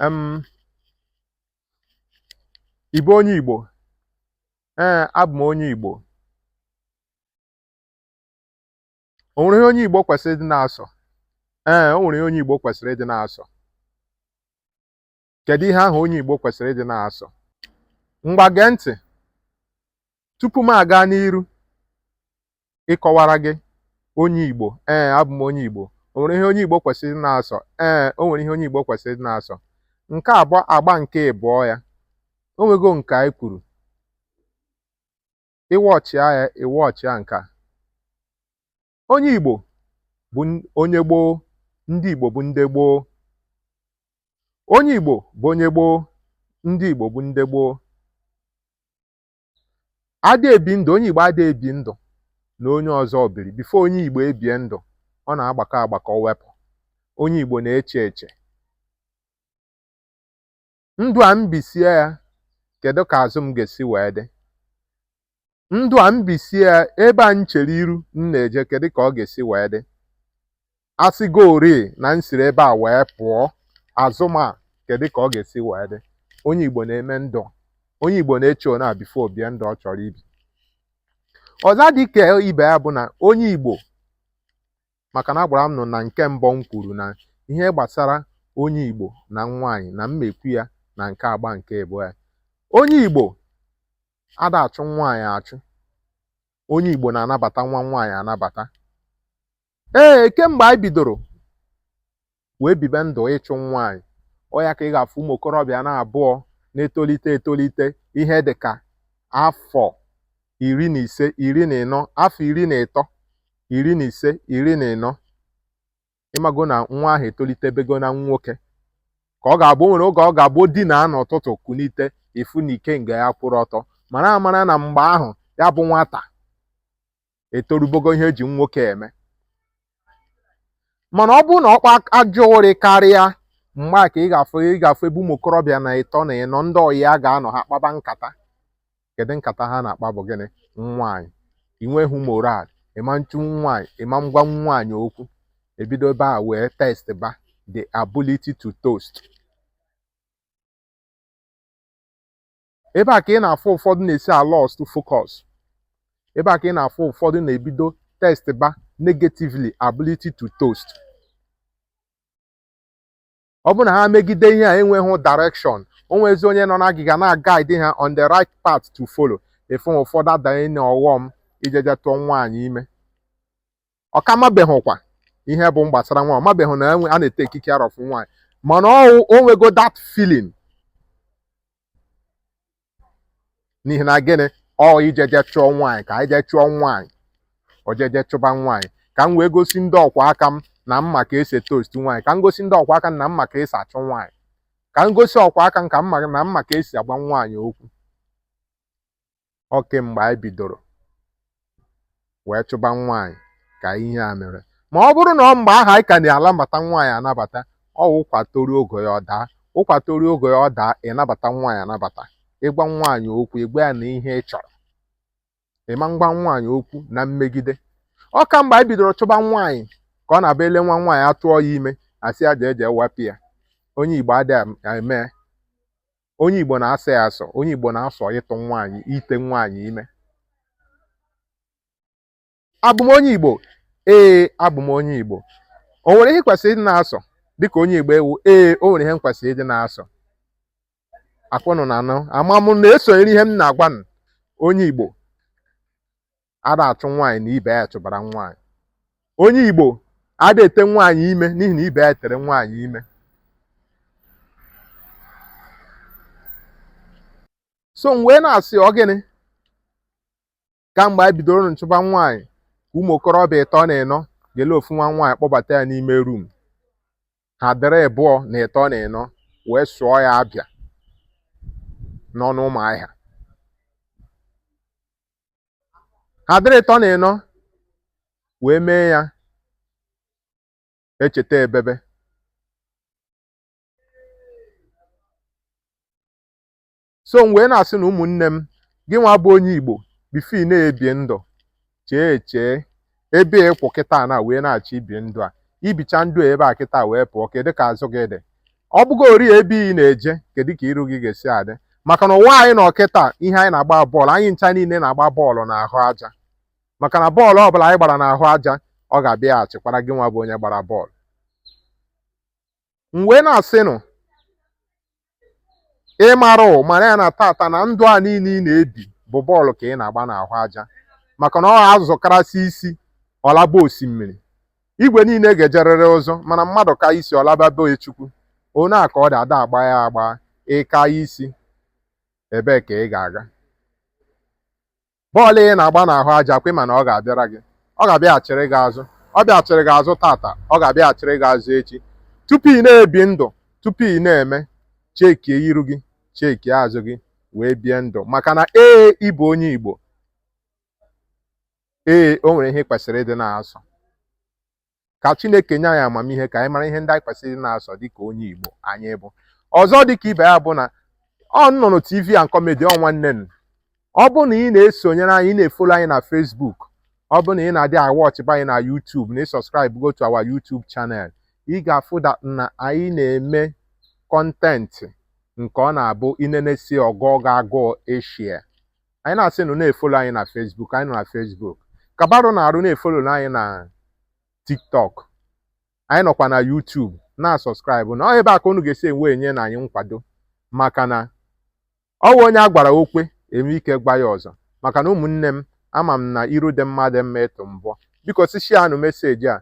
um Ị bụ onye Igbo? Ee, abụ m onye Igbo. O nwere ihe onye Igbo kwesịrị ịdị na-asọ? Ee, o nwere ihe onye Igbo kwesịrị ịdị na-asọ. kedu ihe ahụ onye Igbo kwesịrị ịdị na-asọ ngwa gee ntị tupu m aga n'iru ịkọwara gị onye Igbo ee abụ m onye Igbo o nwere ihe onye Igbo kwesịrị ịdị na-asọ ee o nwere ihe onye Igbo kwesịrị ịdị na-asọ nke a bụ agba nke ịbụọ ya o nwego nke anyị kwuru ị watchịa ya ị watchịa nke a onye Igbo bụ onye gboo ndị Igbo bụ ndị gboo onye Igbo bụ onye gboo ndị Igbo bụ ndị gboo ada ebi ndụ onye Igbo ada ebi ndụ na onye ọzọ biri before onye Igbo ebie ndụ ọ na-agbakọ agbakọ wepụ onye Igbo na-eche eche ndụ a m bisie ya kedu ka azụ m ga-esi wee dị ndụ a m bisie ya ebe a m chere iru m na-eje kedu ka ọ ga-esi wee dị a sịgori na m siri ebe a wee pụọ azụ m a kedu ka ọ ga-esi wee dị onye igbo na-eme ndụ onye igbo na-eche ona before o bie ndụ ọ chọrọ ibi ọzọ dị ka ibe ya bụ na onye igbo maka na agwara m ụnụ na nke mbụ m kwuru na ihe gbasara onye Igbo na nwaanyị na m ma-ekwu ya na nke agba nke ịbụọ ya onye Igbo ada achụ nwaanyị achụ onye Igbo na-anabata nwa nwaanyị anabata ee kemgbe anyị bidoro wee bibe ndụ ịchụ nwaanyị ọ ya ka ị ga-afụ ụmụ okorobịa na abụọ na-etolite etolite ihe dị ka afọ iri na ise iri na ịnọ afọ iri na ịtọ iri na ise iri na ịnọ ị mago na nwa ahụ etolitebego na nwoke ka ọ ga-abụ nwere oge ọ ga-abụ dina n'ụtụtụ kunite ị fụ na ikenga ya kwụrụ ọtọ mara amara na mgbe ahụ ya bụ nwata etorubogo ihe e ji nwoke eme mana ọ bụrụ na ọ kpa ajọ ụrị karịa mgbe a ka ị ga-afụ ebe ụmụ okorobịa na ịtọ na ịnọ ndị ọyị ya ga-anọ ha kpaba nkata kedu nkata ha na-akpa bụ gịnị nwaanyị i nweghị morale ị ma nchụ nwaanyị ị ma ngwa nwaanyị okwu e bido ebe a wee test ba the ability to toast ebe a ka ị na-afụ ụfọdụ na-esi lost focus ebe a ka ị na-afụ ụfọdụ na-ebido test ba negatively ability to toast ọ bụrụ na ha megide ihe a na-enweghị direction o nwezi onye nọ n'agịga na-aguide ha on the right path to follow ị fụ ụfọdụ adanye na ọghọm ijeje tụọ nwaanyị ime ọ ka mabeghịkwa ihe bụ gbasara nwa ọ mabeghị na a na-ete ekike arafu nwaanyị mana ọwụ o nwego that feeling n'ihi na gịnị ọ ijeje chụọ nwaanyị ka i jee chụọ nwaanyị o jeje chụba nwaanyị ka m wee gosi ndị ọkwa aka m na m ma ka esi toast nwaanyị ka m gosi ndị ọkwa aka m na m ma ka esi achụ nwaanyị ka m gosi ọkwa aka m ka m ma na m ma ka esi agwa nwaanyị okwu ọ kemgbe anyị bidoro wee chụba nwaanyị ka ihe a mere ma ọ bụrụ na ọ mgbe ahụ anyị ka na-anabata nwaanyị anabata ọ wụ ụkwa toruo ogo ya ọ daa ụkwa toruo ogo ya ọ daa ịnabata nwaanyị anabata ịgwa nwaanyị okwu ịgwa ya na ihe ị chọrọ ịma ngwa nwaanyị okwu na mmegide ọ kamgbe anyị bidoro chụba nwaanyị ka ọ na-abụ ele nwa nwaanyị atụọ ya ime asị ya jee jee wepụ ya onye Igbo adịghị eme onye Igbo na-asọ ya asọ onye Igbo na-asọ ịtụ nwaanyị ite nwaanyị ime abụ m onye Igbo ee abụ m onye Igbo o nwere ihe kwesịrị ịdị na-asọ dịka onye Igbo ewu ee o nwere ihe m kwesịrị ịdị na-asọ ọkwa ụnụ na-anụ ama m na-esonyere ihe m na-agwa ụnụ onye Igbo ada achụ nwaanyị na ibe ya chụbara nwaanyị onye Igbo ada ete nwaanyị ime n'ihi na ibe ya tere nwaanyị ime so m wee na-asị ọ gịnị kamgbe anyị bidoro nchụba nwaanyị ka ụmụ okorobịa ịtọ na ịnọ ga-ele ofu nwa nwaanyị kpọbata ya n'ime rum ha dịrị ịbụọ na ịtọ na ịnọ wee sụọ ya abịa n'ọnụ Ụmụahịa ha dịrị ịtọ na ịnọ wee mee ya echeta ebebe so m wee na-asị na ụmụnne m gị nwa bụ onye Igbo bifo ị na-ebie ndụ chee echee ebe ị kwụ kịta na wee na-achọ ibi ndụ a i bicha ndụ a ebe a kịta wee pụọ kedụ ka azụ gị dị ọ bụgo ori ebe ị na-eje kedụ ka iru gị ga-esi adị maka na ụwa anyị nọ kịta ihe anyị na-agba bọọlụ anyị ncha niile na-agba bọọlụ n'ahụ aja maka na bọọlụ ọbụla anyị gbara n'ahụ aja ọ ga-abịaghachikwara gị nwa bụ onye gbara bọọlụ m wee na-asịnụ ị marọ mara ya na tata na ndụ a niile ị na-ebi bụ bọọlụ ka ị na-agba n'ahụ aja maka na ọ azụ karasị isi ọ laba osimiri igwe niile ga-ejerịrị ụzụ mana mmadụ ka isi ọ laba be Chukwu onye a ka ọ dị ada agba ya agba ị ka isi ebee ka ị ga-aga bọọlụ ị na-agba n'ahụ aja kwe mana ọ ga-abịara gị ọ ga-abịaghachiri gị azụ ọ bịaghachiri gị azụ tata ọ ga-abịaghachiri gị azụ echi tupu ị na-ebi ndụ tupu ị na-eme chekie iru gị chekie azụ gị wee bie ndụ maka na ee ị bụ onye Igbo ee o nwere ihe ị kwesịrị ịdị na-asọ ka Chineke nye anyị amamihe ka anyị mara ihe ndị anyị kwesịrị ịdị na-asọ dịka onye Igbo anyị bụ ọzọ dịka ibe ya bụ na ọ nnụnụ TV and comedy ọ nwanne m ọ bụ na ị na-esonyere anyị ị na-efolo anyị na Facebook ọ bụ na ị na-adị awọchịba anyị na YouTube na ị subscribe go to our YouTube channel ị ga-afụta na anyị na-eme kọntentị nke ọ na-abụ i nenesi ọ gụọ gị agụụ ishia anyị na-asị nụ na-efolo anyị na Facebook anyị nọ na Facebook kabarụ na-arụ na-efolo anyị na TikTok anyị nọkwa na YouTube na-asọskraịbụ na ọ ebe a ka unu ga-esi enwe enye na anyị nkwado maka na ọ bụ onye a gwara o kwe e nwee ike gwa ya ọzọ maka na ụmụnne m ama m na iru dị mma dị mma ịtụ mbọ biko si shianụ meseji a